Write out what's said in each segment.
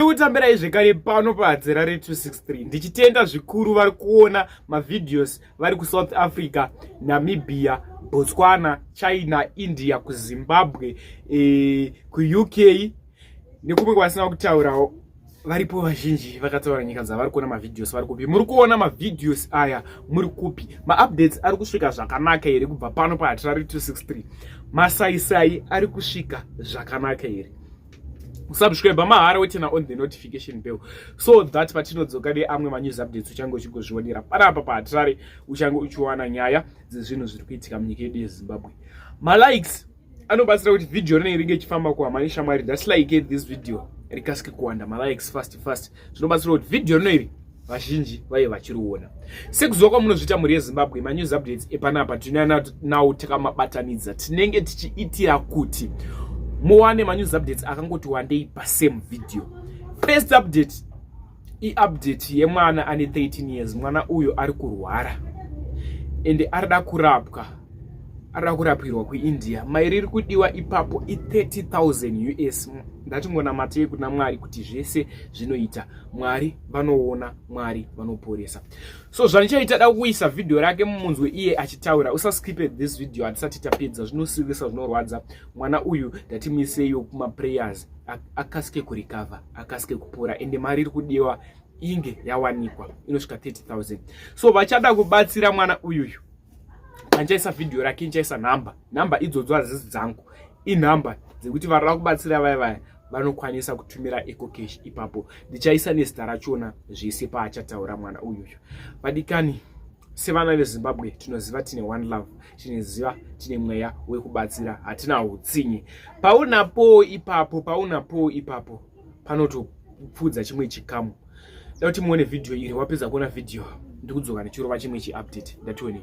Ndikutambirai zvekare pano padzera re 263 ndichitenda zvikuru vari kuona mavideos vari kusouth africa namibia botswana china india kuzimbabwe e, kuuk nekumwe kwavasina kutaurawo varipo vazhinji vakataura nyika dzavari kuona mavideos vari kupi muri kuona mavideos aya muri kupi maupdates ari kusvika zvakanaka here kubva pano pahatirari 263 masaisai ari kusvika zvakanaka here subscribe mahara wetena on the notification bell so that patinodzoka neamwe manews updates uchange uchigozvionera panapa pahatirari uchange uchiwana nyaya dzezvinhu zviri kuitika munyika yedu yezimbabwe malikes anobatsira kuti vhidhiyo rinei ringe ichifamba kuhama neshamwari just like this video rikasike kuwanda malikes fast fast zvinobatsira kuti vhidhiyo rino iri vazhinji vaive vachiriona sekuziva kwamunozviita mhuri yezimbabwe manews updates epanapa tinana nawo takamabatanidza tinenge tichiitira kuti muwane manews updates akangoti wandei pasame video first update iupdate yemwana ane 13 years mwana uyo ari kurwara ende arida kurapwa arida kurapwirwa kuindia mai riri kudiwa ipapo i 30000 us ndatingonamatei kuna mwari kuti zvese zvinoita mwari vanoona mwari vanoporesa so zvandichaita da kuisa vhidhiyo rake mumunzwe iye achitaura usaskipe this video hatisati tapedza zvinosiwisa zvinorwadza mwana uyu ndatimiseiwo kumaprayers akasike kurikavha akasike kupora ende mari iri kudiwa inge yawanikwa inosvika 30000 so vachada kubatsira mwana uyuyu andichaisa vhidhiyo rake ndichaisa nhamba nhamba idzodzo hazizi dzangu inhamba dzekuti varira kubatsira vaya vaya vanokwanisa kutumira ecocash ipapo ndichaisa nezita rachona zvese paachataura mwana uyuyu vadikani sevana vezimbabwe tinoziva tine one love tinoziva tine mweya wekubatsira hatina utsinye paunapo ipapo paunapo ipapo panotopfudza chimwe chikamu da kuti muone vhidhiyo iri wapedza kuona vhidhiyo ndikudzoka ndichirova chimwe chiupdate ndatione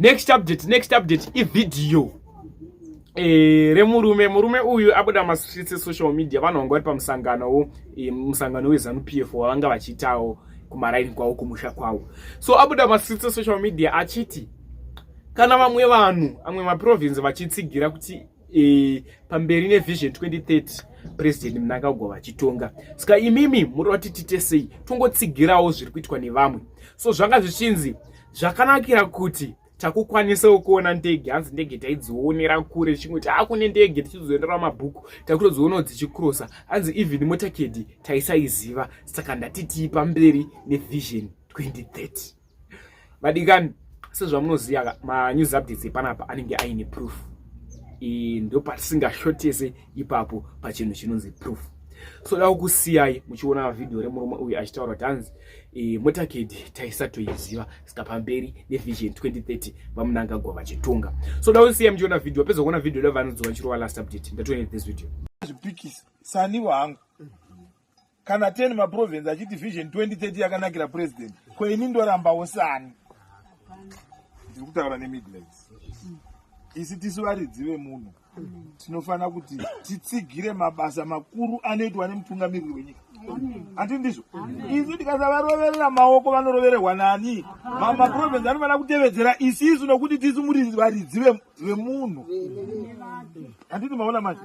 next update next update ivideo e, remurume murume uyu abuda mastreets esocial media vanhu vanga vari pamusanganowo e, musangano wezanu p f wavanga vachiitawo kumaraini kwavo kumusha kwavo so abuda mastreets esocial media achiti kana vamwe vanhu amwe maprovince vachitsigira kuti e, pamberi nevision 2030 president mnangagwa vachitonga saka imimi muri vati tite sei tongotsigirawo zviri kuitwa nevamwe so zvanga zvichinzi zvakanakira kuti takukwanisawo kuona ndege hanzi ndege taidzionera kure chingoti akune ndege tichizoendera mabhuku takutodzionawo dzichikrosa hanzi even motakedi taisaiziva saka ndatitiipa mberi nevision 2030 vadikani sezvamunoziva ka manews updates epanapa anenge aine proof ndopatisingashotese ipapo pachinhu chinonzi proof so da kukusiyai muchiona vhidhiyo remurume uyu achitaura kuti hanzi e, motakedi taisatoiziva saka pamberi nevision 2030 vamunangagwa vachitonga so da kusiyai muchiona vhidhiyo peza kuona vhidhiyo levanodzoa chirova last update ndatoine this video zvipikisa sanivo hangu kana 10 maprovince achiti vision 2030 yakanakira president ko ini ndorambawo sani ndiri kutaura nemidlands isi tisu varidzi vemunhu tinofanira kuti titsigire mabasa makuru anoitwa nemutungamiriri wenyika handi ndizvo isu tikasavaroverera maoko vanorovererwa nani mamaprovince anofanira kutevedzera isisu nokuti tisu muri varidzi vemunhu handiti maona manje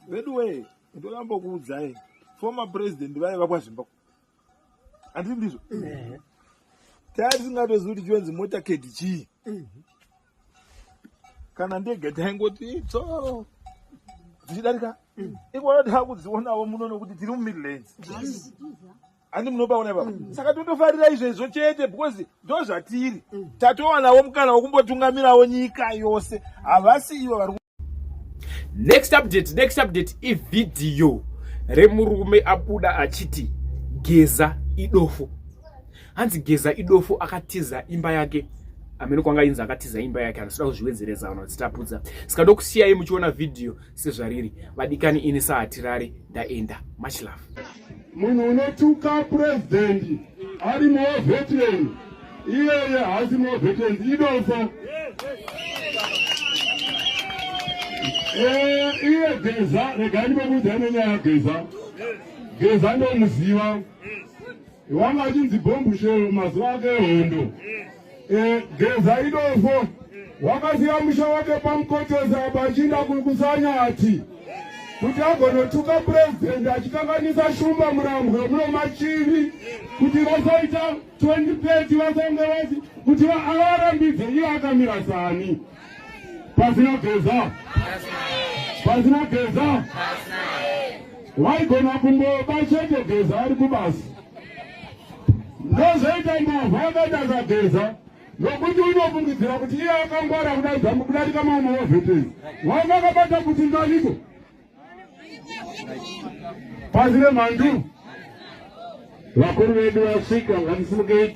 veduwee ndoramba kuudzai former president vaye vakwazvimba handii ndizvo eh. taa tisingatozivi kuti chionzi mota kedi chii eh. kana ndege taingoti tso dzichidarika eh. ikona taakudzionavo muno nokuti tiri mumidlands handi munobaona ipapa mm. saka totofarira izvezvo chete because ndo zvatiri mm. tatowanavo mukana wekumbotungamirawo nyika yose havasi ivo vari next update next update ivhidhiyo remurume abuda achiti geza idofo hanzi geza idofo akatiza imba yake amene kwanga inzi akatiza imba yake anosida kuzviwedzereza vanhu vachitapudza saka ndokusiyai muchiona vhidhiyo sezvariri vadikani ini sahatirari ndaenda much love munhu unotuka president ari moveteran iyeye haasi moveteran idofo eh, iye geza regai ndimomuudzai nenyaya geza geza ndomuziva wanga achinzi bhombushero mazuva ake hondo Eh, geza idofo wakasiya musha wake pamukotesa apa achiinda kukusanya ati kuti agonotuka purezidhendi achikanganisa shumba murambwe muno machivi kuti vasaita 2030 vasange vati kuti avarambidze iye akamira sani pasina geza pasina geza waigona kumboba chete geza ari kubasa ndozoita mbavha akaita zageza nokuti unofungidzira kuti iye akangwara kudaidza kudarika mauma wavhetezi wanga akabata kuti ndaniko pasi remhandu vakuru vedu vasvika ngatisimukei